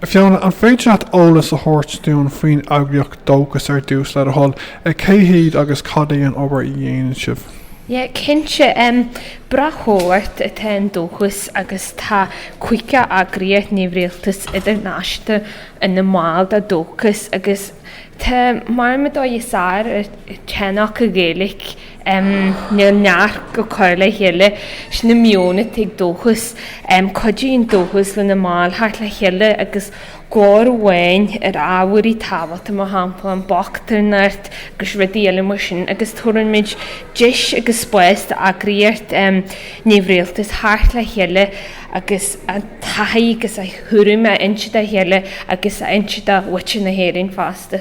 Fiona, an féidir leat eolas a thabhairt dúinn faoin eagraíocht dóchas ar dtús le do thoil? Cé hiad agus cad é an obair a dhéanann sibh? Yeah, cinnte. bratchomhlacht atá in dóchas agus tá caoga eagraíocht neamhrialtais idirnáisiúnta ina mbaill de dóchas agus tá muid ar cheann acu, Gaelic. Níl neart go cur le chéile sin an mana atá ag dóchas. Cuidíonn dóchas lena mbaill teacht le chéile agus glór amháin ar ábhair tábhachta, mar shampla, an bhochtaineacht agus rudaí eile mar sin, agus tabharann muid deis agus spás d'eagraíocht neamhrialtais teacht le chéile agus a taithí agus a thuairim a insint dá chéile agus a insint do mhuintir na hÉireann fosta.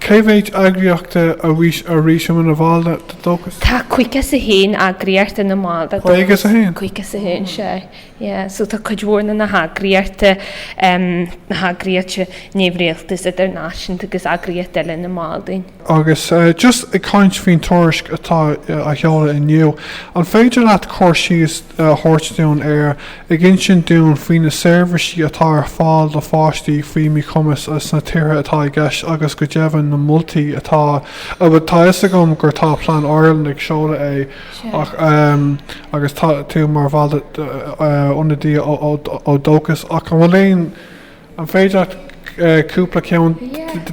Cé mhéid eagraíochta arís atá ina bhall de dóchas? Tá 51 eagraíocht ina mball de dóchas. 51? 51, sea. Yeah. So tá cuid mhór de na heagraíochta, em, na heagraíochta neamhrialtais idirnáisiúnta agus eagraíochtaí eile ina mball dúinn. Agus just ag caint faoin tuairisc atá á sheoladh inniu, an féidir leat cur síos a thabhairt dúinn ar Ag insint dúinn faoi na seirbhísí atá ar fáil do pháistí faoi mhíchumas sna tíortha atá i gceist agus go deimhin na moltaí atá Tá a fhios agam gur tá Plan Ireland ag seoladh é ach agus tá tú mar bhall ionadaí ó Dóchas ach an bhfuil aon An féidir leat cúpla ceann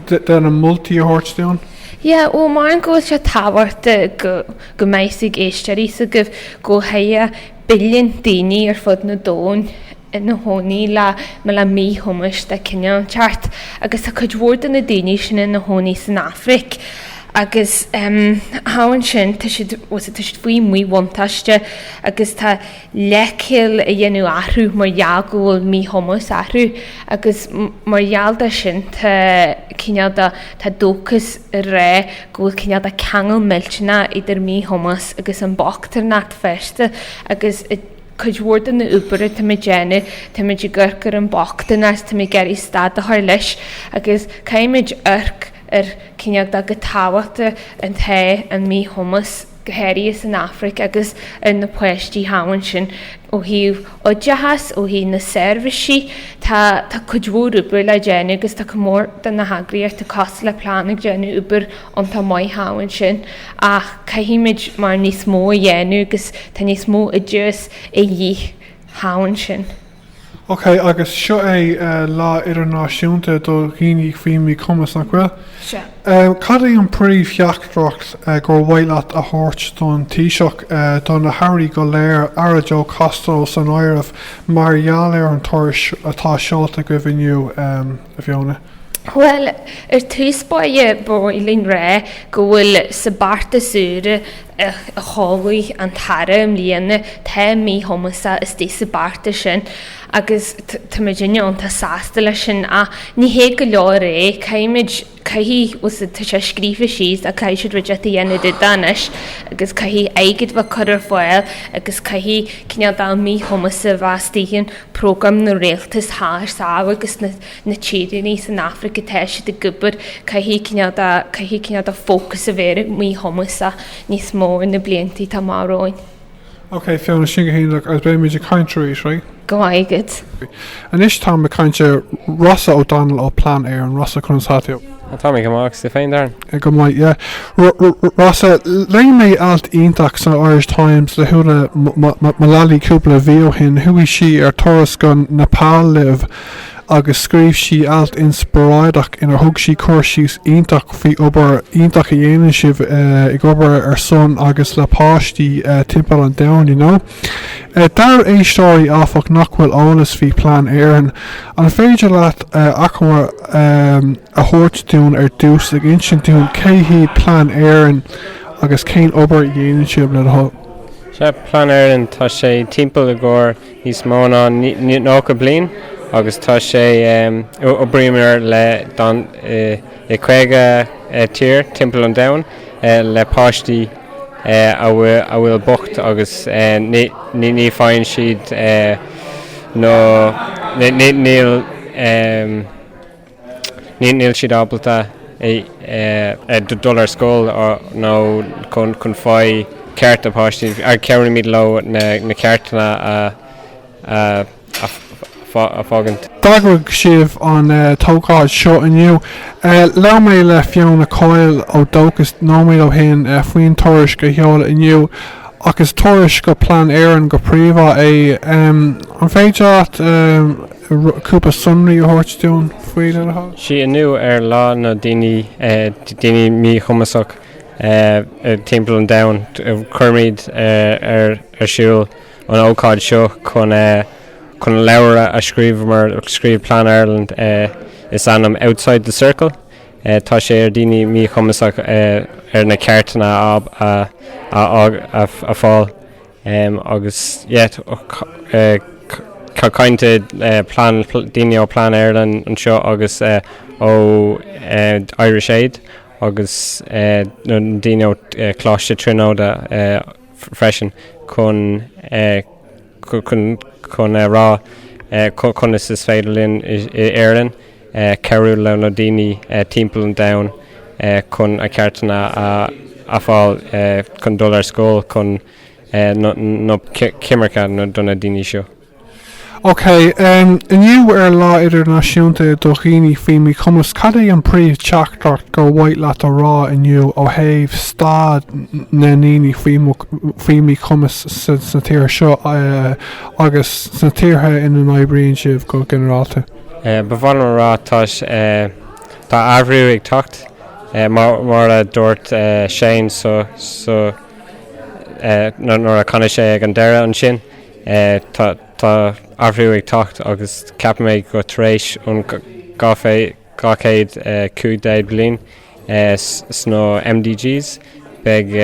de na moltaí a thabhairt dúinn? Yeah, bhuel, measaim go bhfuil sé tábhachtach go mbeidh a fhios ag éisteoirí go bhfuil billiún daoine ar fud an domhain ina chónaí le mo le míchumas de chineál inteacht agus tá cuid mhór de na daoine sin ina chónaí san Afraic agus thall ansin tá siad, bhuel, tá siad faoi mhíbhuntáiste agus tá leithcheal a dhéanamh orthu mar gheall go bhfuil míchumas orthu agus mar gheall de sin tá cineál de, tá dóchas ag rá go bhfuil cineál de ceangal millteanach idir míchumas agus an bochtaineacht fosta agus i cuid mhór den obair atá muid a dhéanamh tá muid ag amharc ar an bochtanas, tá muid ag iarraidh stad a chur leis agus caithfimid amharc ar cineál de go tábhacht atá an míchumas. go háirithe san Afraic agus ar na páistí thall ansin ó thaobh oideachais, ó thaobh na seirbhísí. Tá cuid mhór oibre le déanamh agus tá cuid mhór de na heagraíochtaí cosúil le Plan ag déanamh obair iontach maith thall ansin ach caithfimid mar níos mó a dhéanamh agus tá níos mó oideachais a dhíth thall ansin. Ok, agus seo é Lá Idirnáisiúnta do Dhaoine faoi Mhíchumas, nach bhfuil? Sea. Cad é an phríomhtheachtaireacht gur mhaith leat a thabhairt don Taoiseach, do na hAirí go léir, Aire Joe Costello san áireamh, mar gheall ar an tuairisc atá seolta againn inniu? a Fiona. Bhuel, ar dtús báire, ba mhaith linn a rá go bhfuil sa beartas úr a sheolfaidh an tAire i mbliana, tá míchumas istigh sa beartas sin agus táimid iontach sásta leis sin. Ach ní hé go leor é, caithfimid, caithfidh, tá sé scríofa síos ach caithfidh siad rud éigin a dhéanamh de do anois agus caithfidh airgead a bheith curtha ar fáil agus caithfidh cineál de míchumas a bheith istigh ann. prógraim na rialtas thar sáile agus na tíortha san Afraic atá siad ag obair, caithfidh cineál de, caithfidh cineál de fócas a bheith ar míchumas níos mó sna blianta atá amach romhainn. Ok, Fiona, sin go hiontach agus beidh muid ag caint tar éis, right? Go raibh maith agat. Anois tá mé ag caint le Rossa O'Donnell ó Plan Éireann, Rossa conas atá tú. Tá, tá mé go maith agus tú féin Darren? Go maith, yeah. Rossa, léigh mé alt iontach san Irish Times le hÚna Mullally cúpla mhí ó shin, chuaigh sí ar turas go Nepal libh agus scríobh sí alt inspioráideach inar thug sí cur síos iontach faoi obair iontach a dhéanann sibh eh, ag obair ar son agus le páistí eh, timpeall an domhain, you know? D'ár éisteoirí áfach nach bhfuil eolas faoi Plan Éireann. An féidir leat achoimre a thabhairt dúinn ar dtús ag insint dúinn cé hiad Plan Éireann agus cén obair a dhéanann sibh, le do thoil? Sea, Plan Éireann, tá sé timpeall i gcomhair níos mó ná 90 bliain agus tá sé, oibríomar le, don, i, I 50 tír timpeall an domhain, le páistí a bhfuil bocht agus ní faigheann siad nó níl siad ábalta dul ar scoil nó chun faigh cearta páistí, cabhraímid leo na ceartanna a. a fágaint. D'eagraigh sibh an ócáid seo inniu. Labhair mé le Fiona Coyle ó Dóchas nóiméad ó shin faoin tuairisc a seoladh inniu, ach is tuairisc do Plan Éireann go príomhá é. An féidir leat cúpla sonraí a thabhairt dúinn faoi le do thoil? Sea, inniu ar Lá na nDaoine Daoine Míchumasach timpeall an domhain, cuirimid ar siúl. an ócáid seo chun an leabhar a scríobh mar, scríobh Plan Ireland is ainm Outside the Circle. Tá sé ar daoine míchumasach ar na ceartanna a fáil agus tá cainte daoine ó Plan Ireland anseo agus ó Irish Aid agus daoine ó Choláiste Tríonóide. freisin chun chun a rá conas is féidir linn i Éirinn cabhrú le na daoine timpeall an domhain chun a ceartanna a fáil chun dul ar scoil chun nó coimirce do na daoine seo. OK. Inniu ar Lá Idirnáisiúnta do Dhaoine Faoi Mhíchumas, cad é an príomh-teachtaireacht gur mhaith leat a rá inniu ó thaobh staid na ndaoine faoi mhíchumas sa tír seo agus sna tíortha ina n-oibríonn sibh go ginearálta? Ba mhaith liom a rá tá tá athrú ag teacht mar a dúirt Shane so nuair a canadh sé ag an deireadh ansin. Tá athrú ag teacht agus ceapaim mé go tar éis ón 215ú bliain sna MDGs beidh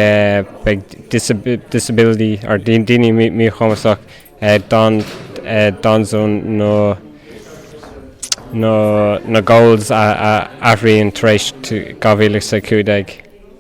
beidh disability, or daoine míchumasach, d'fhonn na goals a athraíonn tar éis 2015.